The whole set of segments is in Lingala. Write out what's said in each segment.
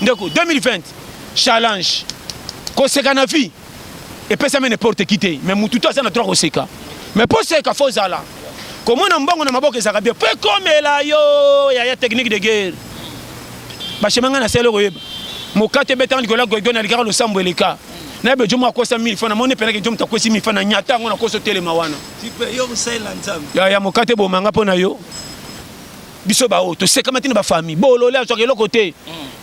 Ndeko 2020 challenge koseka na vie epesami n'importe qui te mais mutu to aza na droit koseka mais mpo oseka fo ozala komona mbongo na maboko ezalaka bien mpo ekomela yo yaya technique de guerre bashema ngai nasali okoyeba mokate ebetanga likolo ya goigo nalikaka losambo eleka na yebe jomo akosa 1000 fa namoni mpenaki jomo takwesi 1000 fa na nyata yango nakosa otelema wana ya mokate bomanga mpo na yo biso ba oyo tosekama ti na ba famille bolole azwaka eloko te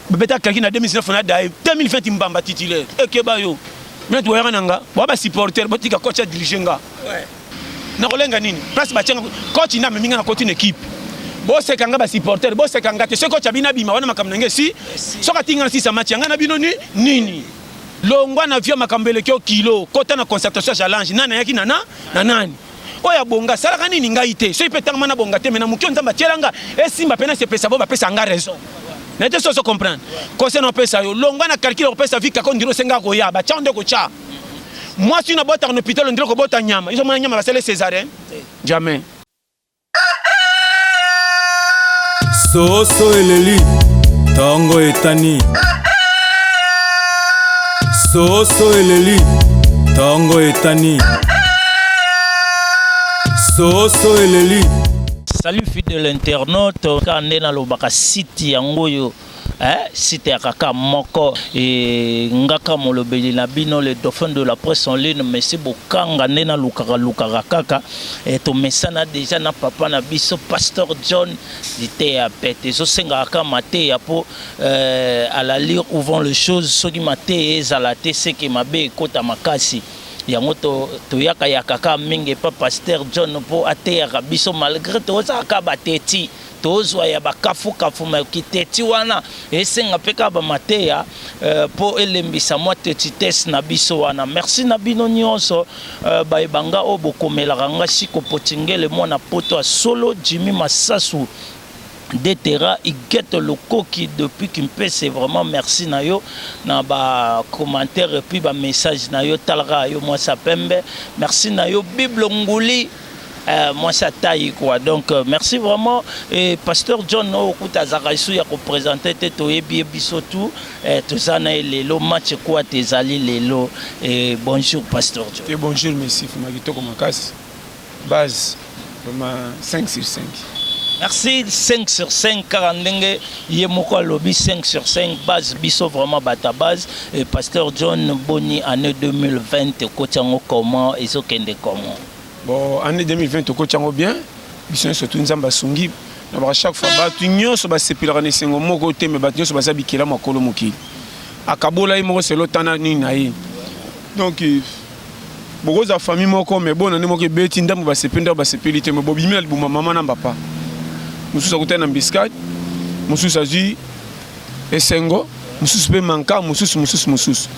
babeta kaki na 2019 na daye 2020 mbamba titulaire ekeba yo nati boyaka na nga boya ba supporter botika coach ya dirige nga nakolenga nini place batianga coach nde amemi nga na koti na ekipe boseka nga ba supporter boseka nga te soki coach abina abima wana makambo na nge si soki atingi nga na sisa match yanga na bino ni nini longwa na vio makambo eleki yo kilo kota na concertation ya jalange nani ayaki na na na nani oyo abonga asalaka nini ngai te soki mpe ntango ma nabonga te me na moki oyo nzambe atiela nga esimba mpe nasepesa bo bapesa nga raison na te soso comprendre kose na opesa yo longwa na calcule okopesa vi kako ndiri osenga koya batya nde okotya mwasi na botaka na hôpital ondiri okobota nyama izo mona nyama basali césarien jamais soso eleli tongo etani soso eleli tongo etani soso eleli salut fidèle internaute ka nde nalobaka site yango oyo eh, site ya kaka moko e, ngaka molobeli na bino le dauphin de la presse en ligne mesi bokanga nde nalukaka lukaka kaka e, tomesana deja na papa na biso pasteur john liteya pete ezosengaka kaka mateya mpo eh, à la lire où vont les choses soki mateya ezala te seke mabe ekota makasi yango toyaka to yaka kaka mingi epa pasteur john mpo ateyaka biso malgré tozalaka bateti Tozwa ya ba kafu kafu mais kiteti wana esenga pe kaka ba mateya po elembisa mwa tetites na biso wana. Merci na bino nionso baye ba nga oyo bokomelaka nga Siko Potingele mwana poto ya solo, Jimmy Masasu de Terra, Huguette Lokoki depuis Kimpese vraiment merci na yo na ba commentaires et puis ba messages na yo tala kaka yo mwasi ya pembe merci na yo Bible Nguli. Euh, moi ça taille quoi donc euh, merci vraiment et pasteur john no okuta azaka isu ya kopresente te toyebi ye biso tu eh, toza na ye lelo match kuwa te ezali lelo eh, bonjour pasteur john te bonjour messi fuma kitoko makasi base vraiment 5 sur 5 merci 5 sur 5 kaka ndenge ye moko alobi 5 sur 5 base biso vraiment bata base et pasteur john boni année 2020 ekoti yango comment ezokende comment Bon, année 2020 tokoti yango bien biso nyonso tu nzambe asungi na baka chaque fois bato nyonso basepelaka na esengo moko te me bato nyonso baza bikela makolo mokili akabola ye moko selo tana nini na ye donc bokozwa famille moko me bona nde moko ebeti ndambo basepeli ndambo basepeli te me bobimi na libuma mama na papa mosusu akutani na mbiskade mosusu azwi Esengo, mosusu pe manka, mosusu, mosusu, mosusu.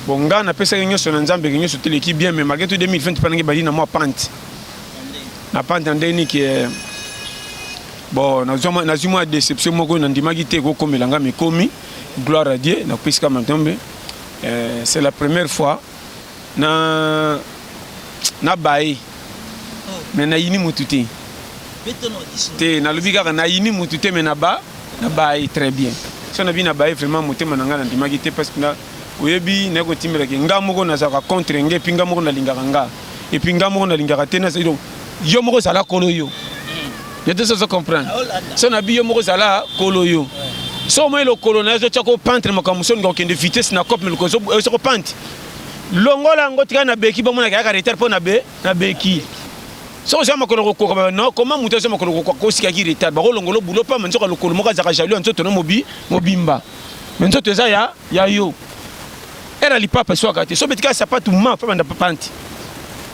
Bon, nga na pesaki nyoso na Nzambe ke nyoso teleki bien, mais malgre tout 2020 pa nange bali na mwa pante. Na pante na ndenge nini ke bon na zwa na zwi mwa deception moko na ndimaki te ko komela nga mais komi gloire à Dieu na pesika matombe. Euh, c'est la première fois Na na baye mais na yini mutu te te nalobi kaka na yini mutu te mais na ba na baye très bien so na bi na baye vraiment motema na ngai nandimaki te parce que na oyebi naye kotimbela ke nga moko nazalaka contre nge epuis nga moko nalingaka nga epuis nga moko nalingaka te nazali donc yo moko zala kolo yo yo te sozo comprendre so na bi yo moko zala kolo yo so omoni lokolo na yo ezotya ko pantre makambo mosusu olinga kokende vitesse na cope me lokolo ezoko pantre Longola yango tika na beki bomona kaka retard po na be na beki. Soko za makolo kokoka ba non comment mutu za makolo kokoka ko sika ki retard ba ko longola boulot pa manzo ka lokolo moka zaka jaloux nzoto no mobi mobimba. Mais nzoto eza ya ya yo. Era lipapa swaka te so betika sapatu ma pa banda panti.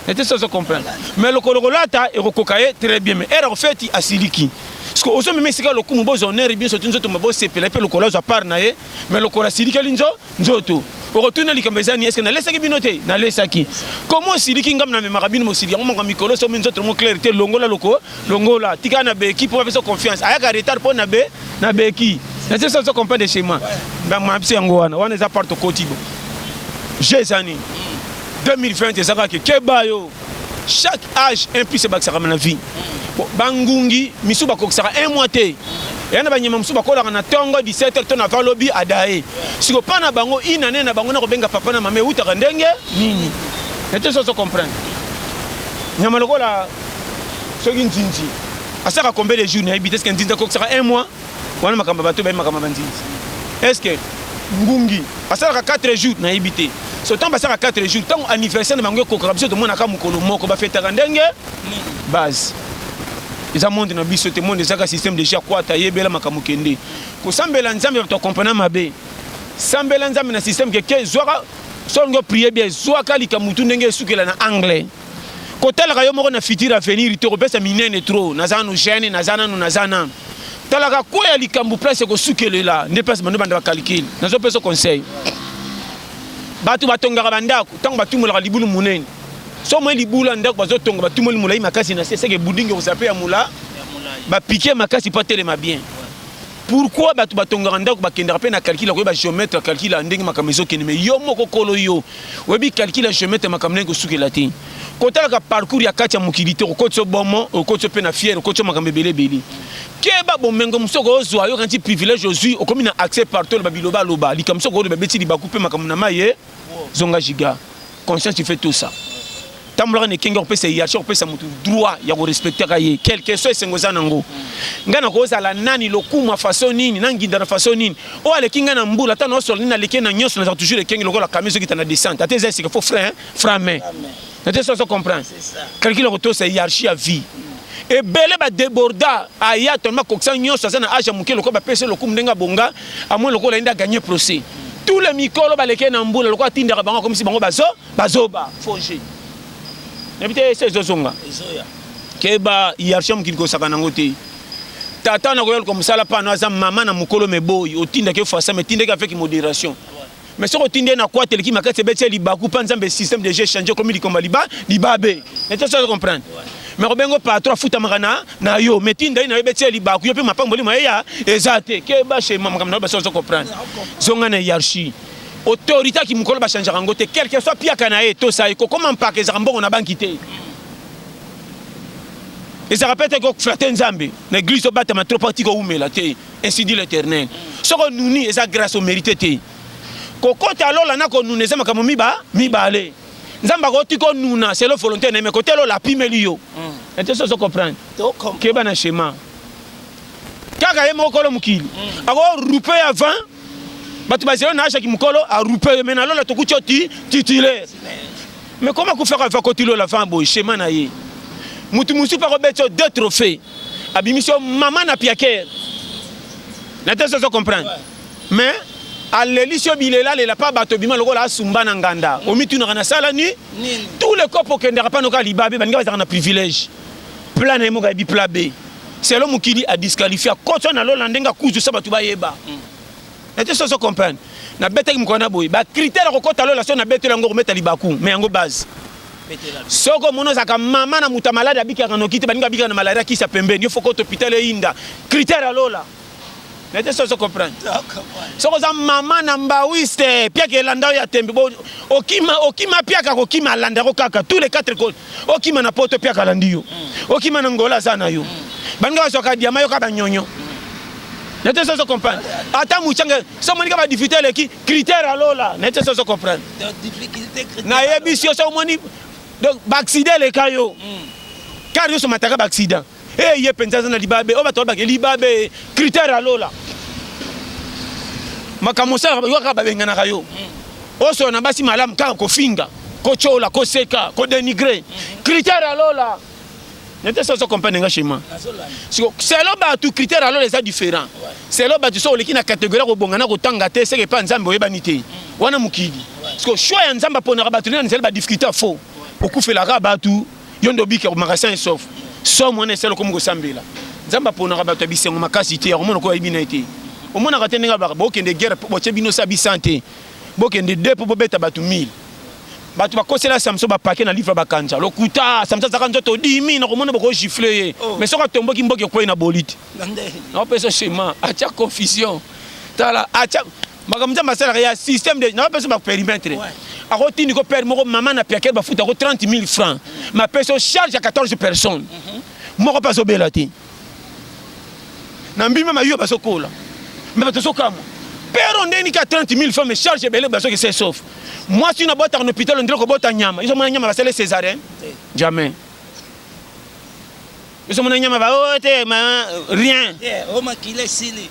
Ete so so comprendre. Mais lokolo kolata ekokoka ye très bien mais era ofeti asiliki. Parce que ozo meme sika lokumu bozo honneur bien sotu nzoto mabo sepela pe lokolo za part na ye mais lokolo asiliki linzo Nzoto. Okotuna likambo eza nini? Est-ce que nalesaki bino te? Nalesaki. Comment osiliki ngambo na memaka bino mosili yango manga mikolo so mi nzoto ngo clair te longola loko longola tika na beki po apesa confiance ayaka retard po na be na beki na sesa so comprendre chez moi ba ma biso yango wana wana eza part okoti bo je zani 2020 ezaka ke keba yo chaque age un plus ebakisaka na vie bangungi misu bakokisaka un mois te eya na banyama mosusu bakolaka na ntongo 17 to na valobi adaye siko mpa na bango inane na bango na kobenga papa na mama eutaka ndenge nini nete soso comprendre nyama lokola soki nzinzi asaka combien de jour nayebi te seke nzinzi akokisaka un mois wana makambo bato bayebi makambo ya banzinzi est ce que ngungi asalaka 4 jours nayebi te so ntango basalaka 4 jours ntango anniversaire na bango ekokaka biso tomonaka mokolo moko bafetaka ndenge base eza monde na biso te monde ezaka système déjà kwata yebela makambo kende kosambela nzambe bato akomprena mabe sambela nzambe na système keke zwaka soki olingi oprie bie zwaka likamutu ndenge esukela na anglais kotalaka yo moko na futur avenir te kopesa minene trop naza nanu jeune naza nanu naza nanu talaka kwe ya likambo place ekosukelela nde place bando banda bacalcule nazopesa conseil bato batongaka bandako ntango batumolaka libulu monene so moi libulu ya ndako bazotonga batumoli molai makasi na se seke budingi okozala mpe ya mola bapike makasi mpo atelema bien Pourquoi bato batongaka ndako bakendaka mpe na calcul ya koyeba geomètre ya calcul ya ndenge makambo ezokende mais yo moko kolo yo oyebi calcul ya geomètre makambo ndenge kosukela te kotalaka parcours ya kati ya mokili te okotisi obomo okotisi mpe na fiere okotisi makambo ebele ebele keba bomengo mosusu okozwa yo kanisi privilège ozwi okomi na accès partout oloba biloba aloba likambo mosusu okoloba ebeti libaku mpe makambo na maye zonga giga conscience tu fais tout ça tambolaka na ekenge kopesa hiérarchie kopesa motu droit ya korespectaka ye quelque soit esengo eza nango ngai nakozala nani lokumu ya façon nini nanginda na façon nini oyo aleki ngai na mbula ata naosola nini aleki na nyonso nazala toujours ekenge lokola kami ezokita na descente ata eza esika fo frein frame na te soso comprendre calcul ya kotosa hiérarchie ya vie ebele badeborda aya tolma kokisa nyonso aza na age ya moke lokola bapesi lokumu ndenge abonga amoni lokola yende aganye procès tous les mikolo balekee na mbula lokola atindaka bango akomisi bango bazo bazoba foge nayebi te ese ezozonga keba hiérarchie ya mokili kosaka nango te tata na koya luka mosala pano aza mama na mokolo meboyi otindaki ofasa me tindaki avec modération mais soki otindi ye na kwata eleki makasi ebeti ye libaku mpa nzambe système de jeu change okomi likomba liba libabe nete soki comprendre mais kobengo patron afutamaka na na yo mais tinda ye na yo ebeti ye libaku yo mpe mapamboli ma ye ya eza te ke bashe makambo na yo basi ozo comprendre zonga na hiérarchie autorité ya kimokolo bachangeaka yango te quelque soit piaka na ye tosa ye kokoma mpaka ezaka mbongo na banki te ezaka mpe te koflate nzambe na eglise obatama trop atika oumela te Ainsi dit l'Éternel. Soki onuni eza grâce omerite te. Kokota lola na konuna eza makambo miba mibale. Nzambe akoti konuna selon volonté na ye, mais kote lola apimeli yo. Ete hmm. soso comprendre. Keba na schéma. Kaka ye moko kolo mokili. Hmm. Ako rupe ya 20 bato bazelo na ashaki mokolo arupe yo me na lola tokuti yo ti titulaire Mais comment kufa ka vako tilo la vambo schéma na ye. Mutu musu pa ko betso deux trophées. Abimisio maman na piaker. Na tesa zo comprendre. Mais alelisi yo bilela lela pa bato bima lokola asumba na nganda omitunaka nasala ni tous les cope okendaka pano kaka libabe baninga bazalaka na privilège pla na ye moko ayebi pla be selo mokili adisqualifia kotso na lola ndenge akuzusa bato bayeba mm. na te soso comprendre na betaki mokolo na boye ba critère kokota lola so na betela yango kometa libaku mais yango base soko omoni ozalaka mama na moto ya maladi abikaka noki te baninga abikaka na malaria kisi ya pembeni yo fokota hôpital eyinda critère ya lola na te soso comprendre soko oza mama na mbawiste piaka elanda oyo ya tembe okima okima piaka kokima alanda yango kaka tous les quatre cote okima na poto piaka alandi yo okima na ngola aza na yo baninga bazwaka diama yoka banyonyo na te sozo comprendre ata muchange so monika ba difficulté eleki critère ya lola na te sozo comprendre nayebisi yo so omoni donc baaccident eleka yo kar nyonso mataka baaccident Hey, ye penza aza na libabe oyo bato babake libabe critère ya lola makambo osalaka yo kaka babenganaka yo osola na basi malamu kaka kofinga kotyola koseka kodenigre critère ya lola nete so ozo comprendre nga chemin siko selo bato critère ya lola eza différent selo bato so oleki na catégorie ya kobonga na kotanga te seke epa nzambe oyebani te wana mokili siko choix ya nzambe aponaka bato nde na nzela badifficulté ya faux okufelaka bato yo nde obiki akomaka sans esof somo wana esala okomi kosambela nzambe aponaka bato ya bisengo makasi te yakomona okoyo ayebi na ye te omonaka te ndenge abaka bokende guerre mpo botye bino sa bisan te bokende de mpo bobeta bato 1000 bato bakosela samson bapake na livre bakanza lokuta samson azalaka nzoto dimi nakomona bokogifle ye oh. mais soki atomboki mboki ekwei na boli te naopesa shema atya confusion tala atya makambo nzambe asalaka ya système de naba pesa ba perimetre ako tindi ko père moko mama na piaker ba futa ko 30000 francs ma peso charge ya 14 personnes mhm. moko pa zobela te na mbima mayo ba sokola mais ba tosokama père on deni ka 30000 francs mais charge ebele ba soki c'est sauf moi si na bota en hôpital on dirait ko bota nyama iso mona nyama ba sale césarien jamais biso mona nyama ba oh, te ma rien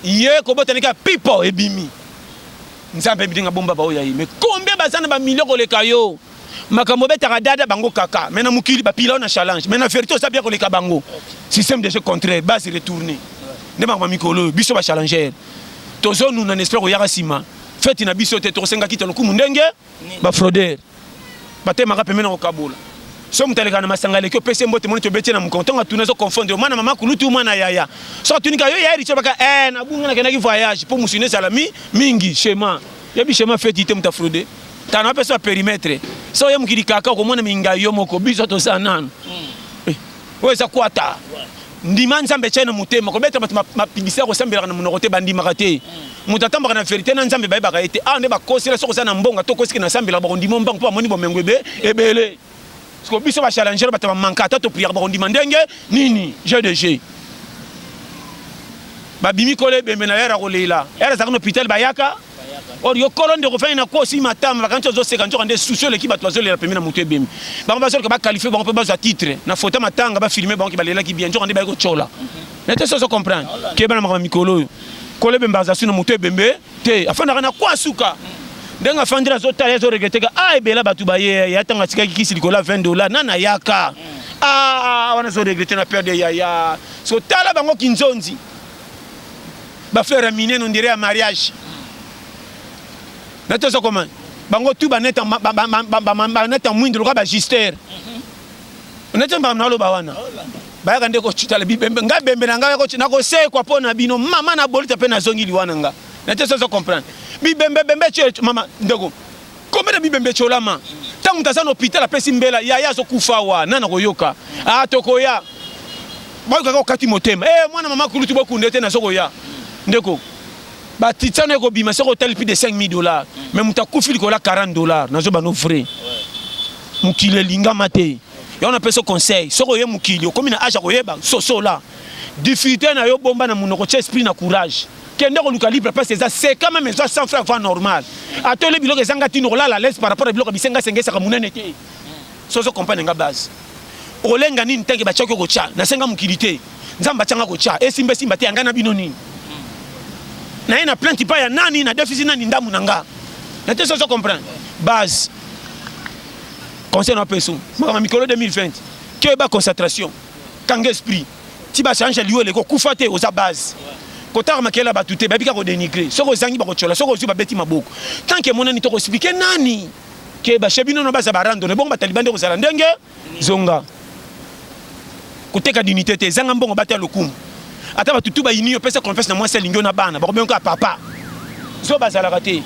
ye kobotani kaka pipo ebimi nzambe ayebi ndenge abomba baoyo ya ye mais combien baza na bamilio koleka yo makambo obetaka dada bango kaka mais na mokili bapila yo na challenge mais na verité oza bien koleka bango système de jeu contraire base retourne nde makambo ya mikolo oyo biso bachallenger tozonuna na esprit koyaka nsima feti na biso te tokosengaki te lokumu ndenge bafrodere batemaka pembeni na kokabola so moto aleka na masanga aleki opesi mbote moni tobeti na mokongo ntongo atuna ezokofondre mwana mama kulutu mwana yaya so atunika yo yaya richo baka e nabunga nakendaki voyage mpo mosuni ezala mi mingi chema yebi chema feti te moto afrode tana apesa ba perimetre so oye mokili kaka okomona mingai yo moko biso toza nano hmm. eh, oyo eza kwata Ndima Nzambe tya ye na motema. Kobeta bato mapibisi ya kosambelaka na monoko te, bandimaka te. Moto atambaka na verite na Nzambe bayebaka ye te. Awa nde bakosela soki oza na mbonga to okosiki na sambelaka bakondima ombangu mpo bamoni bomengo ebe ebele. Siko biso ba challenger bato bamanka ata topriaka bakondima ndenge nini jeu de jeu. Babimi kolo ebembe na yara kolela. Yara azalaka na hôpital bayaka. or yo kolo ndeko ofandi na kuwa osimbi matama bakanisi ozoseka nzoka nde susi oleki bato bazolela pembe na moto ebemi bango bazoloka bakalifie bango mpe bazwa titre na fota matanga bafilme bango ke balelaki bien nzoka nde baye kotyola nete soki ozo comprendre keba na makambo mikolo oyo kolo ebembe aza su na moto ebembe te afandaka na kwa suka ndenge afandeli azotala azoregreteka a ah, ebela bato baye ya ntango atikaki kisi likolo ya 20 dollars nana yaka a ah, ah, wana azoregrete na perde yaya so tala bango kinzonzi ba fleur ya mine no ndire ya mariage na tozo koma bango tu baneta baneta mwindu lokola bagister neti mbaka naloba wana bayaka nde kocutala bibembe ngai bembe na ngai nakosekwa mpo na bino mama na bolita mpe nazongi liwa na ngai neti sozo comprendre bibembe bembe mama ndeko Combien de bibembe etiolama tango moto aza na hopital apesi mbela yaya azo kufa awa nani akoyoka ah tokoya bayoka kaka okati motema eh mwana mama kulutu bokunda ete nazo koya ndeko ba titsano ekobima soko otali plus de 5000 dollars mais moto akufi likola 40 dollars nazo bano vrai mokili elingama te yango napesa conseil soko oye mokili okomi na age ya koyeba sosola difficulté na yo bomba na monoko tia esprit na courage Kende koluka libre place eza seka meme ezwa 100 francs va normal. Ata olie biloko ezanga ntina okolala à l'aise par rapport na biloko ya bisenga senga esaka monene te. So ozo comprendre nga base. Okolenga nini ntanke batiaki yo kotya na senga mokili te. Nzambe atyanga kotya esimba esimba te ya ngai na bino nini. Naye na plainte epai ya nani na defisi nani ndambu na nga. Na te so ozo comprendre base. Conseil na opeso makambo ya mikolo 2020 keba concentration kanga esprit. ti ba change lieu eleko kufa te oza base kotaka makele ya bato te bayebi kaka kodenigre soki ozangi bakotyola soki ozwi babeti maboko tant que emonani to koexplike nani ke bashe bino no baza barandone bongo bataliban nde kozala ndenge zonga koteka dinite te ezanga mbongo bata lokumu ata bato tu bayini yo pesa confiance na mwasi alingi yo na bana bakobengi kaka papa zo bazalaka te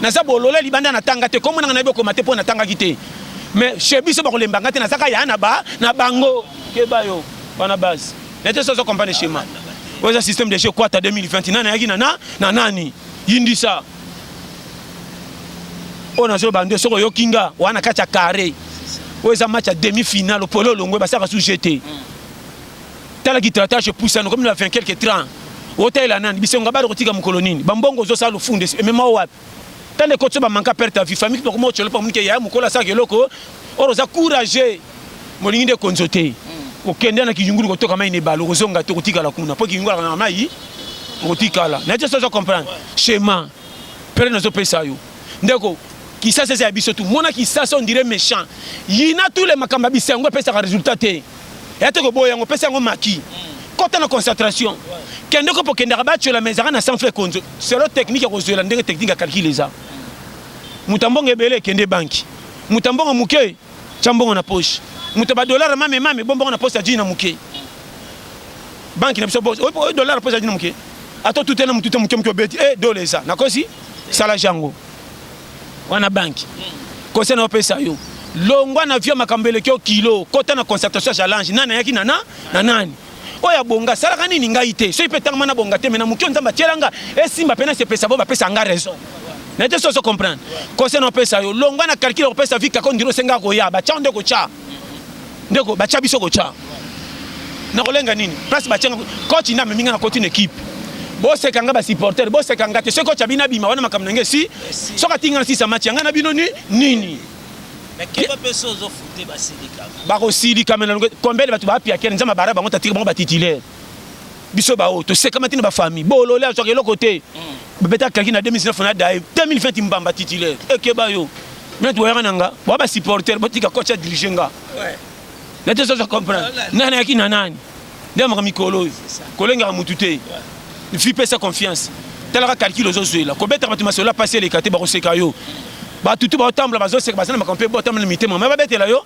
naza bolole libanda natanga te komonanga nayebi okoma te mpo natangaki te mais chez biso bakolemba nga te nazaka ya na ba na bango Keba yo wana base. Nete sozo compagnie schéma. Oyo eza système de jeu Kwata 2020. Nani ayaki na na na nani? Yindisa. Oyo nazo ba nde soko yoki nga wana kati ya carré. Oyo eza match ya demi-finale polo longwe basaka sous jeu te. Tala ki tratage poussa no comme la 20 quelques 30. Otalela nani? Bisonga bado kotika mokolo nini? Bambongo ozosala lofunda emema wapi? Tande kotso ba manka perte à vie famille boko mo cholo pa munike ya mukolo asa keloko oro za courage molingi nde konzo te mm. okende na kiyungulu kotoka mai ne balo kozonga te kotikala kuna po kiyungulu kana mai okotikala na te sozo comprendre schéma pere nazo pesa yo ndeko kisasa eza ya biso tu mona kisasa on dirait méchant yina tous les makamba bisengo epesaka résultat te ya te koboya yango pesa yango maki kota na concentration kende kopo okendaka batyola ma ezalaka na sans frais konzo selo technique ya kozwela ndenge technique ya calcul eza moto ambongo ebele ekende banki moto ambongo moke tya mbongo na poche moto badolare mame mame bombongo na poche ya jini na moke banki na biso oyo dolare poche ya jini na moke ata otutela motu te moke moke obeti e eh, dola eza nakosi sala jango wana banki conseil naopesa yo longwa na vio makambo eleki yo kilo kota na concertation ya jalange nani ayaki na na na nani oyo abonga asalaka nini ngai te soki mpe ntango mana bonga te me na moki oyo nzambe atyela nga esimba mpe nasepesa bo bapesa nga raison naye te soso comprendre conseil naopesa yo longwa na calcule okopesa vi kako ndiro osenga koya batyango nde kotya ndeko batya biso kotya nakolenga nini place batya coach nde amemi nga na koti na ekipe boseka nga basupporter boseka nga te soki coach abina bima wana makambo na nge si soki atingi nga na sisa match yanga na bino ni nini bakosilika mena combien de bato baapiakele nzambe abara bango tatiki bango batitulaire biso baoyo tosekamaki na bafamille bolole azwaka eloko te babeta kaki na 2019 na daye 2020 mbamba titulaire ekeba yo mena toyaka na nga boa basupporter botika coach ya dirige nga na te soza comprendre nani ayaki na nani nde amaka mikolo oyo kolengaka motu te fi pesa confiance talaka calcul ozozwela kobetaka bato masolo apasi eleka te bakoseka yo batutu baotambola bazoseka baza na makambo mpe botambola na mitema me babetela yo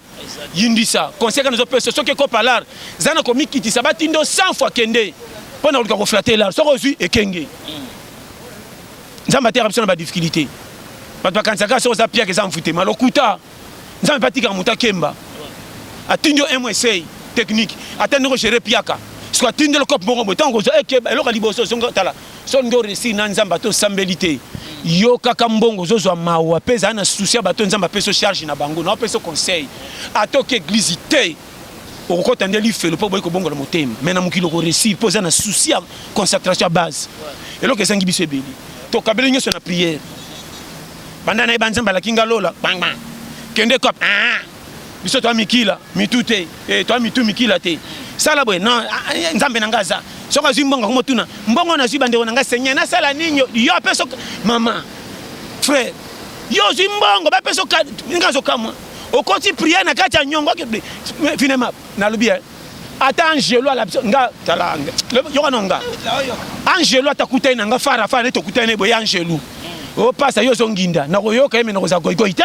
yindisa conseil kani ozopesa soki ekopa lar za na komikitisa batindo 100 fois kende mpo na koluka koflate lar soki ozwi ekenge nzambe ateyaka biso na badifficulté bato bakanisaka soki oza piaka eza mfutema lokuta nzambe mpe atikaka moto akemba atindi yo un mois esei technique ata ndenge ogere piaka soki atindi lokope moko boye ntango kozwa ekeba eloko ya liboso zonga tala so nde oresir na nzambe ata osambeli te yo kaka mbongo ozozwa mawa mpe ezala na susi ya bato nzambe apeso charge na bango naopeso conseil ata oke eglize te okokɔta nde lifelo mpo oboyi kobongola motema mai na mokili okoresir mpo eza na susi ya concentration ya base eloko ezangi biso ebele tokabeli nyonso na priere banda nayeba nzambe alaki nga lola kende kop ah, ah. biso toa mikila mitu te eh, toa mitu mikila te sala boye non ah, eh, nzambe na ngai aza soki azwi mbongo yango motuna mbongo nazwi bandeko na ngai seigneur nasala nini yo ape soki mama frère yo ozwi mbongo bape soki ndenge azokamwa okoti priere na kati ya nyongo finema nalobi eh, ata angelo alabiso nga tala yoka no nga angelo atakutani na nga fara fara nde tokutani na ye boye angelo opasa yo ozonginda nakoyoka ye me nakozala goigoi te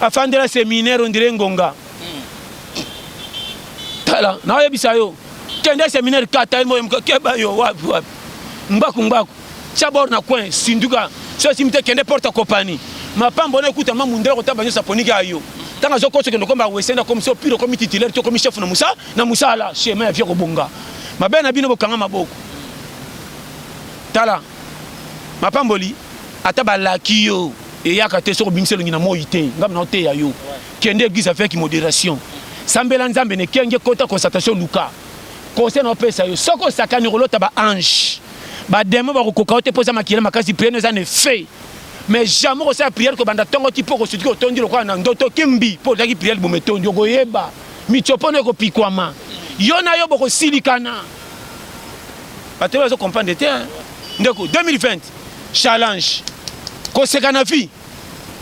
afandela seminaire ondire ngonga tala naoyebisa yo kende seminaire kata emoyemuka keba yo wapi wapi ngbaku ngbaku tia bor na coin sinduka so esimi te kende porte kopani mapambo na ekuta ma mundela kotaba nyonso aponiki ya yo ntango azokosa okende okomba wesende akomi so pire okomi titulaire to okomi chef na mosala na mosala chemin ya vie kobonga mabe na bino bokanga maboko tala mapamboli ata balaki yo eyaka te soki obimisi elongi na moi te ngambo naoteya yo kende église avec modération sambela nzambe na ekenge kota constatation luka conseil naopesa yo soki osakani okolota ba ange bademo bakokoka yo te mpo eza makila makasi priere eza na effet mais jamais okosala priere kobanda ntongo ti mpo okosutuki otondi lokola na ndoto kimbi mpo ozalaki priere boma etondi okoyeba mitsopono ekopikwama yo na yo bokosilikana bato bazo comprendre te ndeko 2020 Challenge. Koseka na vie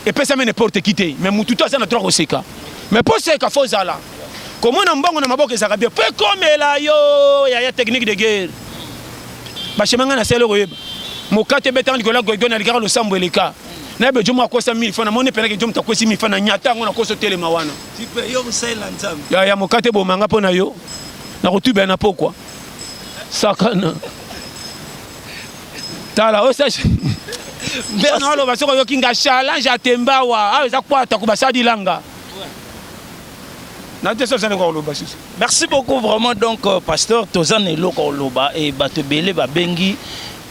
epesami n'importe qui te, mais mutu to aza na droit koseka. Mais po seka faut zala komona mbongo na maboko ezaka bien po ekomela yo ya ya technique de guerre. Ba chemin nga na selo koyeba. Mokate betanga likola goigo na likaka losambo eleka. Na be jomo akosa 1000 francs na moni pena ke jomo takwesi 1000 francs na nyata ngo na koso telema wana. Tipe yo musela nzambe. Ya ya mokate bomanga pona yo. Na kotuba na pokwa. Sakana. tala oyo sage mbela na oloba soki oyoki nga challenge ya tembawa awa ah, eza kwata kobasalilanga na te sozana koloba susu merci beaucoup vraiment donc euh, pasteur toza na eloko koloba e bato ebele babengi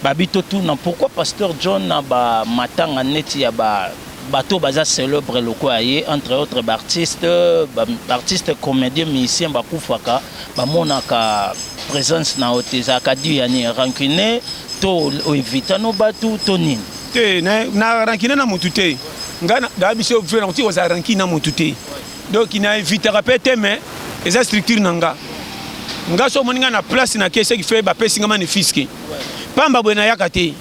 babi totuna pourquoi pasteur john na bamatanga neti ya ba Bato baza celebre lokola ye entre autres ba artistes, ba artistes comediens, musiciens bakufaka bamonaka presence na yo te ezalaka dû ya nini? Rancune to evita no batu to nini? Te na, na rancune na mutu te nga na biso vre na kotika kozala rancune na mutu te donc na evitaka pe te mais eza structure na nga nga so omoni nga na place na ke ce qui fait bapesi nga magnifique pamba boye nayaka te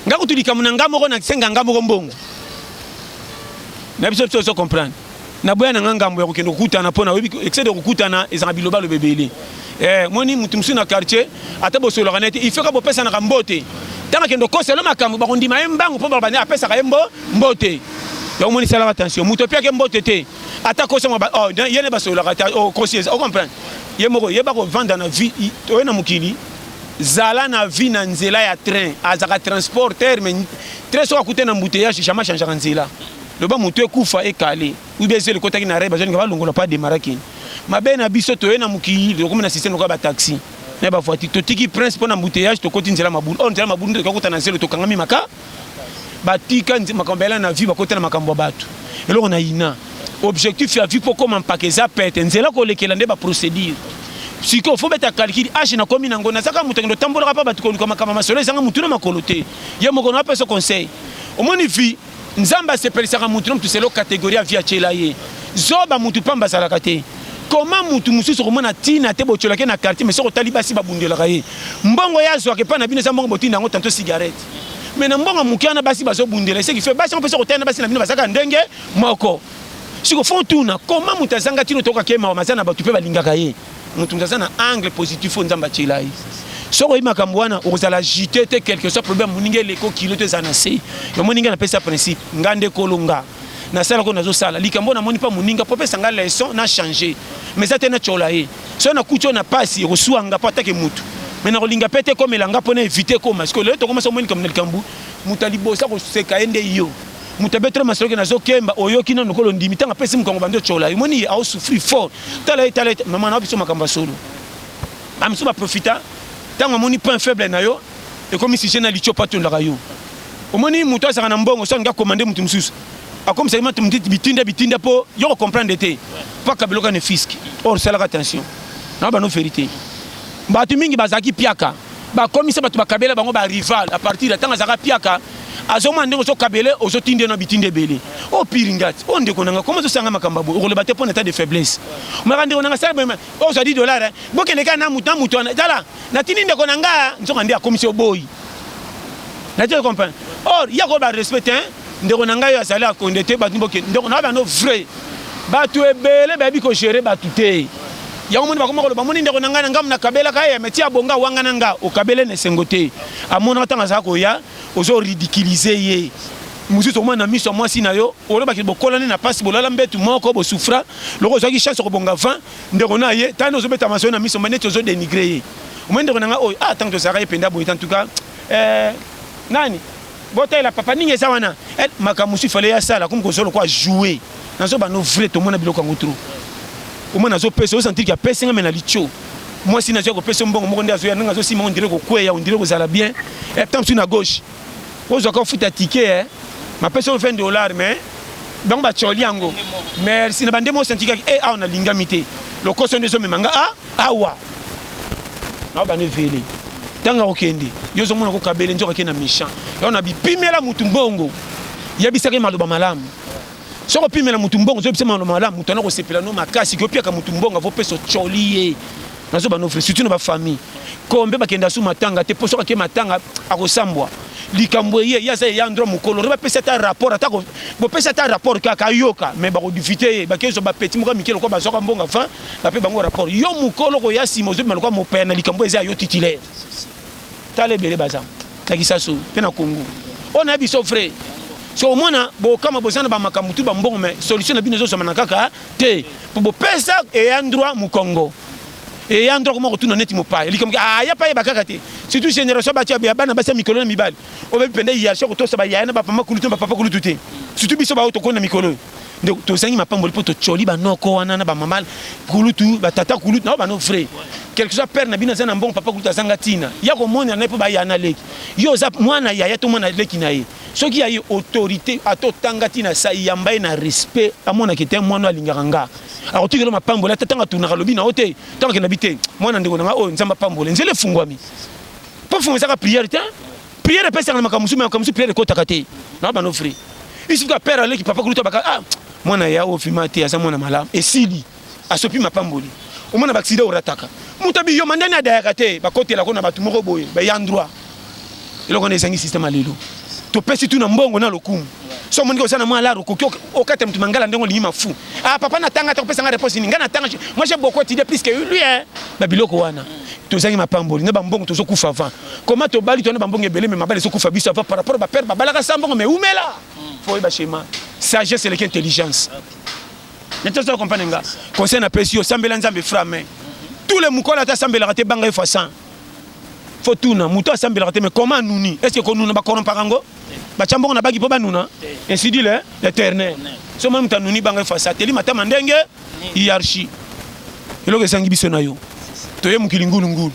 Nga kutu likambo na nga moko na senga nga moko mbongo na biso biso ozo comprendre na boya na nga ngambo ya kokende kokutana mpo na oyebi excès de kokutana ezalaka biloba loba ebele eh, moni motu mosusu na quartier ata bosolaka na ye te il faut ka bopesanaka mbote ntango akende okosa elo makambo bakondima ye mbangu mpo babandi apesaka ye mbo mbote yango moni salaka attention moto opiaki mbote te ata kosa mwa oh, ye ne basololaka ta okosi oh, eza ocomprendre ye moko yeba kovanda na vie oye na mokili Zala na vie na nzela ya train azaka transport terre mais très soki akute na embouteillage jamais changaka nzela loba moto ekufa ekale ube ezeli ekotaki na rai bazolinga balongola pa demara kini mabe na biso toye na mokili tokomi na systeme lokola bataxi na bavoiture totiki prince mpo na embouteillage tokoti nzela mabulu or nzela mabulu nde tokoki kokota na zelo tokangami maka batika makambo bayela na vie bakota na makambo ya bato eloko na ina objectif ya vie mpo okoma mpaka eza pete nzela kolekela nde baprocédure sikoyo fo beta calcul age nakomi nango nazaka moto akende otambolaka mpa bato koluka makambo masolo ezanga motu na makolo te ye moko na apesa conseil omoni vie nzambe asepelisaka motu na motu selo kategorie ya vie atyela ye zoba motu mpamba azalaka te koma motu mosusu okomona ntina te botyolaki na quartier me soki otali basi babundelaka ye mbongo ye azwaka epai na bino eza mbongo botinda yango tanto cigarette mais na mbongo moke wana basi bazobundela eseki fe basi yango mpe soko tayana basi na bino bazalaka ndenge moko siko fo tuna koma moto azanga tino toyoka ke mawa maza na bato mpe balingaka ye moto moto aza na angle positif oyo nzambe atyela ye soki oyebi makambo wana okozala jute te quelque soit problème moninga eleko kilo to eza na se yamoni ngai napesa principe nga nde kolo nga na sala ko nazo sala likambo na moni pa muninga po pesa nga leçon na changer mais ça te na chola ye so na kucho na pasi ko suwa nga po atake mutu mais na ko linga pete ko melanga po na éviter ko mas ko le to ko maso moni kamna likambo muta libosa ko seka ende yo muta betre masolo ke nazo kemba oyoki na nokolo ndimi tanga pesi mukongo bando chola ye moni au souffrir fort tala tala maman na biso makamba solo amso ba profita tanga moni point faible na yo ekomi sujet na litio patu ndaka yo omoni mutu azaka na mbongo so nga commande mutu mususu akomisa ye matu mutu bitinda bitinda po yo ko comprendre te paka biloka ne fisk or salaka attention na bano verite batu mingi bazaki piaka bakomisa bato bakabela bango barival a partir ya ntango azalaka piaka azomona ndenge ozokabele ozotinde na bitinda ebele o oh, pire ngati o oh, ndeko nanga koma ozosanga makambo boye okoloba te mpo na etat de faiblesse omaka ndeko nanga sala boye ozwadi dollar eh. bokende kaka na moto na moto wana tala natindi ndeko na nga nzoka nde akomisi oboyi natie comprendre or ya koyeba respect te ndeko na ngai oyo azali akonde te bato boke ndeko na bano vrai bato ebele bayebi kogere bato te yango moni bakoma koloba moni ndeko na ngai na ngambo nakabelaka ye meti abonga wanga na nga okabele na esengo te amonaka ntango azala koya ozo ridiculize ye mosusu omona na miso ya mwasi na yo olobaki bokolani na mpasi bolala mbetu moko bosufra loko ozwaki chance okobonga 20 ndeko na ye tani ozo beta maso na miso mais neti ozo dénigrer ye omoni ndeko na nga oyo ah tango tozalaka ye penda boye en tout cas euh, nani botalela papa ninga eza wana eh, makambo mosusu ifale ya sala komi kozwa lokola joue nazobanda no vrai tomona biloko yango trop omona azopesa osantirki apesi nga me na litio mwasi nazwa kopesa mbongo moko nde azoya ndenge azosimba ondire kokweya ondire kozala bien eh, temps mosusu na gauche ozwa ko futa ticket eh mapesa yo 20 dollars mais bango bacoli yango merci na bande mo sentikaki e eh, awa nalingami te lokoso nde ezomema nga a ah, awa nao bande vele ntango akokende yo ozomona kokabele nzoka ke na méchant yango na bipimela motu mbongo yebisaki maloba malamu soki opimela motu mbongo ozobisa maloba malamu moto ana kosepela no makasi kopiaka motu mbongo avopesa ocoli ye nazo bana ofre surtout na ba famille kombe bakenda su matanga te poso kake matanga akosambwa likambo eye ye aza ye endroit mokolo re bapesi ata rapport ata bopesi ata rapport kaka ayoka mais bakodifite ye bakezwa bapeti moko ya mike lokola bazwaka mbongo enfin bape bango rapport yo mokolo koya nsima ozobima lokola mopaya na likambo eza ya yo titulaire tala ebele baza na kisasu mpe na kongo oyo nayebi so frais so omona bokama boza na bamakambo tu bambongo mais solution na bino ezozwamana kaka te mpo bopesa eya ndroit mokongo eya ndroit koma kotuna neti mopaya likambo aya pa yeba kaka te surtout génération bato ya bana basi ya mikolo na mibali obebi mpenza hierarchie kotosa bayaya na bapama kulutu na bapapa kulutu te surtout biso baoyo tokoni na mikolo nde tozangi mapamboli mpo tocoli banoko wana na bamama kulutu batata kulutu nao bano vrai quelque soit père na bino aza na mbongo papa kulutu azanga ntina ya komonela na ye mpo bayana leki yo oza mwana yaya to mwana leki na ye Soki ya ye autorite ata otanga ti na sai yamba ye na respect amona ke te mwana alingaka nga akotikela mapamboli ata ntango atunaka lobi na yo te ntango akenda bi te mwana ndeko na nga oyo nzambe apambole nzela efungwami mpo fungo ezaka priere te priere epesaka na makambo mosusu makambo mosusu priere ekotaka te na bana ofri isuka pere aleki papa kuluta baka ah mwana ya ofima te aza mwana malamu esili asopi mapamboli omona baksida orataka moto abi yo mandani adayaka te bakotela ko na bato moko boye baya ndroit eloko wana ezangi systeme ya lelo topesi tu na mbongo na lokumu so omoniki oza na mwa laro okoki okata moto mangala ndenge olingi mafu ah papa natanga te kopesa ngai reponse nini ngai natanga moi j'ai beaucoup étudié plus que lui hein babiloko wana tozangi mapamboli na bambongo tozokufa avant koma tobali tona bambongo ebele me mabala ezokufa biso avant par rapport bapere babalaka sa mbongo me umela po oyeba chema sagesse eleki intelligence okay. Mais tu comprendre nga. Conseil na pesi yo sambela Nzambe fra mais tous les mukola ta sambela raté banga yo façon. Faut tout na muto sambela raté mais comment nuni? Est-ce que konuna ba corrompre ngo? Ba chambongo na bagi po ba nuna. Ainsi dit l'éternel. So même ta nuni banga yo façon. Teli mata mandenge hiérarchie. Eloko esangi biso na yo. Toye mukili ngulu ngulu.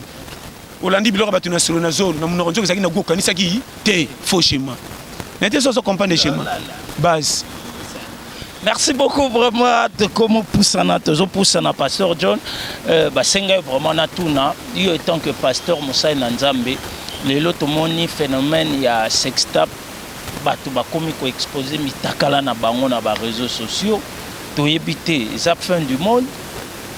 Olandi biloko ya bato na solo na zolo na munoko nzoka ezalaki na goût okanisaki te faux schéma. Na te soso comprendre schéma base. Merci beaucoup vraiment tokomo pusana tozo pusana pasteur John euh, basenga vraiment na tuna yo étant que pasteur Moussa na Nzambe lelo tomoni phénomène ya sextap bato bakomi ko exposer mitakala na bango na ba réseaux sociaux toyebi te eza fin du monde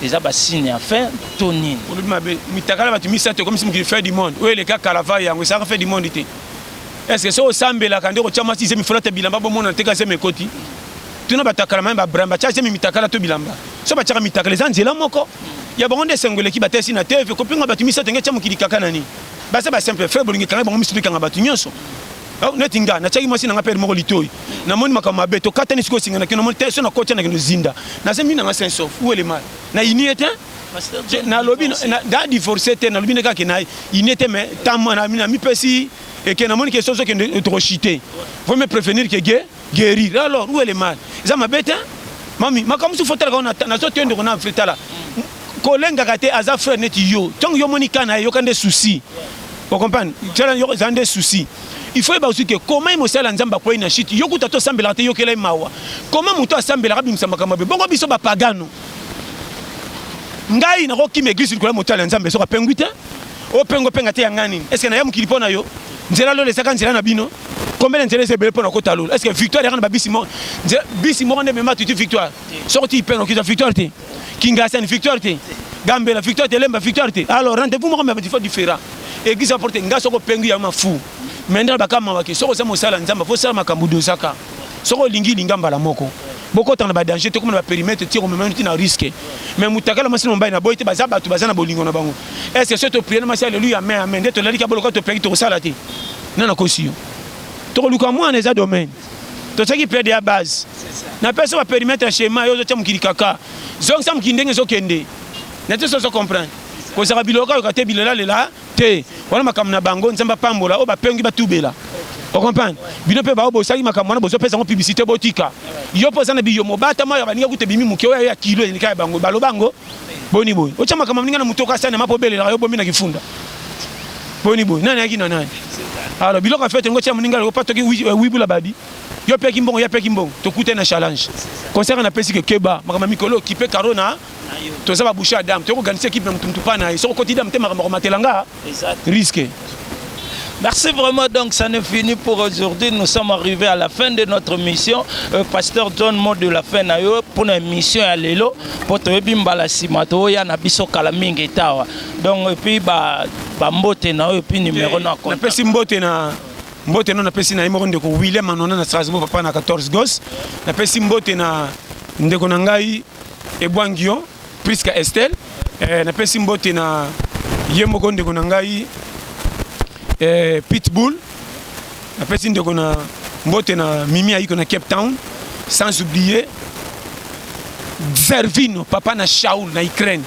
Eza ba signe ya fin to nini? Olobi mabe. Mitakala bato misato ekomisi mokili fin du monde. Oyo eleka Caravay yango esalaka fin du monde te. Est-ce que soki osambelaka nde okotia mwasi zemi folata bilamba bomona teka zemi ekoti? Tuna bato ya kala maye Abraham batia zemi mitakala to bilamba. Soki batiaka mitakala eza nzela moko. Ya bango nde esengo eleki batalisi na TV kopinga bato misato nge etia mokili kaka na nini? Baza ba simple frère bolingi ekanga bango miso to ekanga bato nyonso. Oh, neti nga natiaki mwasi na nga pere moko litoi namoni makambo mabe tokatani sikoyo singa na kino namoni te so nakoti na kino zinda naza mbi nanga saint sauf ou elemar na ini ye te nalobi na divorce te nalobi nde kaka na ini ye te mais ntango namipesi eke namoni ke soso kende tokoshite faut me prévenir ke ge guerir alors où est le mal eza mabe te mami makambo mosusu fo talaka wana nazo te ndeko na fre tala kolengaka te aza frère neti yo ntango yo omoni kana eyoka nde souci ocomprendre tala yo eza nde souci il faut yeba aussi que comment ye mosala nzambe akwei na shite yo kuta tosambelaka te yokela ye mawa comment moto asambelaka abimisa makambo mabe bongo biso bapagano ngai nakokima eglise likolo ya motala ya nzambe soki apengwi te Openga openga te ya nga nini? Est-ce que na ya mokili mpo na yo? Nzela lola ezaka nzela na bino? Combien de nzela eza ebele mpo na kota lola? Est-ce que victoire yaka na ba bisi moko? Nzela bisi moko nde mema tuti victoire. Soko ti ipenga okita victoire te. Kingasani victoire te. Gambela victoire te, Lemba victoire te. Alors rendez-vous moko mais faut différent. Église à porter nga soko pengi ya mafu. Mendra bakama wake soko za mosala nzamba faut sala makambo dosaka. Soko lingi linga mbala moko. Bokota na ba danger te, komona ba perimetre ti komema ti na risque. Mais mutakala masi na mobali na boy te baza batu baza na bolingo na bango. Est ce que to prier na masi alléluia amen amen nde tolali ka boloka to peki to kosala te. Na na kosi yo. Toko luka mwana eza domaine. To saki pede ya base. Na pesa ba perimetre schéma yo zo tia mukili kaka. Zongi sa mukili ndenge zo kende. Na te so zo comprendre. Kozaka biloka yo ka te bilela lela. te wana makambo na bango nzambe apambola oyo bapengi batubela okomprendre bino mpe baobosaki makambo wana bozopesa yango publicité botika yo mpo oza na biyo mobata mayo ya baninga kuta ebimi moke oyo ya kilo elika ya bango baloba yango boni boye otya makambo ya baninga na moto okasani ma mpo obelelaka yo bomi na kifunda boni boye nani ayaki na nani alors biloko ya fete yango otya moninga opa toki euh, wibula babi yo peki mbongo ya peki mbongo tokutani na challenge concert napesi ke keba makambo ya mikolo okipe karo na toza ba bouche ya dame toyoko ganisa ekipe na mutu mutu pa na ye soko koti dame te makambo akomatela nga risque Merci vraiment. Donc, ça n'est fini pour aujourd'hui. Nous sommes arrivés à la fin de notre mission. Euh, Pasteur John Mo de la fin nayo pour une mission à Lelo. Pour te bimbala simato ya na biso kala mingi tawa. Donc, et puis ba ba mbote na et puis numéro eh, na compte. Na pesi mbote na mbote na pesi na imoro ndeko William Anona na Strasbourg papa na 14 gos. Na pesi mbote na ndeko na ngai Ebwangion Prisca Estelle eh, napesi mbote na ye moko ndeko na ngai eh, Pitbull napesi ndeko na mbote na Mimi Aiko na Cape Town sans oublier Zervino papa na Shaul na Ukraine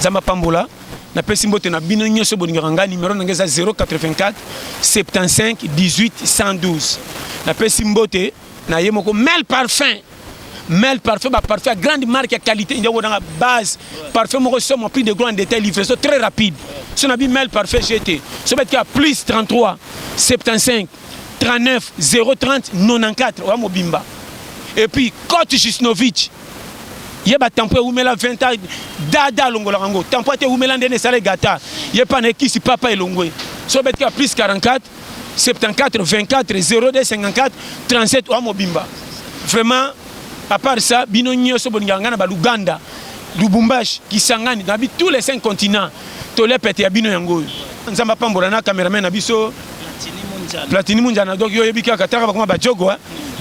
Zamba pambola napesi mbote na bino nyonso bolingaka ngai nimero na ngai eza 084 75 18 112 napesi mbote na ye moko mel parfum mel parfum ba parfum ya grande marque ya qualité ndio wona base parfum moko somo plus de grand détail livraison très rapide so na bi mel parfum jete so bet ka plus 33 75 39 030 94 wa mobimba et puis coach Jusnovic ye ba tampo ewumela 20 ans dada alongolaka yango tampo ate ewumela ndene esala egata ye mpa na ekisi papa elongwe so obetiki ya plus 44 74 24 02 54 37 oa mobimba vraiment à part ça bino nyonso bolingaka ngai na baluganda lubumbashi kisangani nabi tous les cinq continents tolia pete ya bino yango oyo nzambe apambola na cameraman na biso platini munjana donc yo oyebi kaka taka bakoma bajogo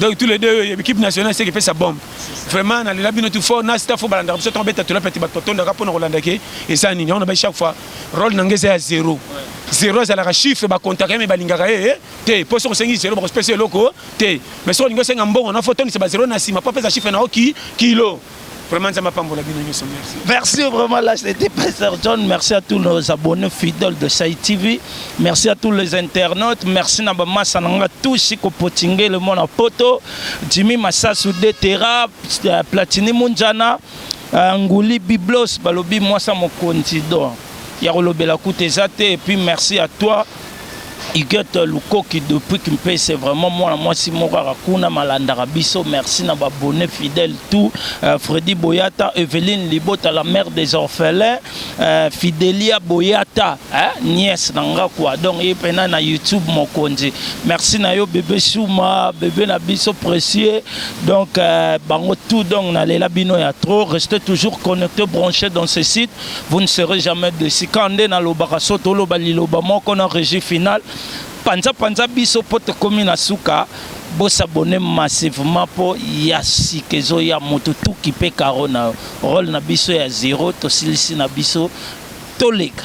donc tous les deux yo oyebi kipe nationale seke epesa bombe vraiment nalela bino tu fort na staff oyo balandaka biso ntango beta tolia pete bato batondaka mpo na kolanda ke eza nini yango na bai chaque fois role na nga eza ya zero zero ezalaka chiffre bakontaka ye me balingaka ye eh, te mpo soki osengi zero bakosipesa eloko te me soki olingi osenga mbongo na fotondisa bazero na nsima mpo apesa chiffre na oki kilo Vraiment, Nzamba Pambola Bino Nyoso, merci. Merci vraiment, là, c'était Pasteur John. Merci à tous nos abonnés fidèles de Sai TV. Merci à tous les internautes. Merci na bama sananga tous ko potinge le mon poto. Jimmy Massasu Detera, Platini Munjana. Ah, Nguli Biblos balobi mwasa mokonzi don ya kolobela kuta eza te et puis merci à toi Huguette Lukoki depuis Kimpese vraiment mwana mwasi moko aka kuna malandaka biso merci na ba bonne fidèle tout euh, Freddy Boyata Evelyne Libota la mère des orphelins euh, Fidelia Boyata hein, nièce na nga quoi donc ye pena na YouTube mokonzi merci na yo bébé Souma bébé na biso précieux Donc, euh, bango tout, donc, na lela bino ya trop. Restez toujours connectés, branchés dans ce site. Vous ne serez jamais déçus. Quand on est dans le barasso, tout le baliloba, mon qu'on a régi final. Panza, panza, biso, pote, komi na suka. Bo s'abonner massivement pour yasi, kezo, ya, moto, tout qui peut carona. Rôle na biso ya zéro, to silisi na biso, tolega.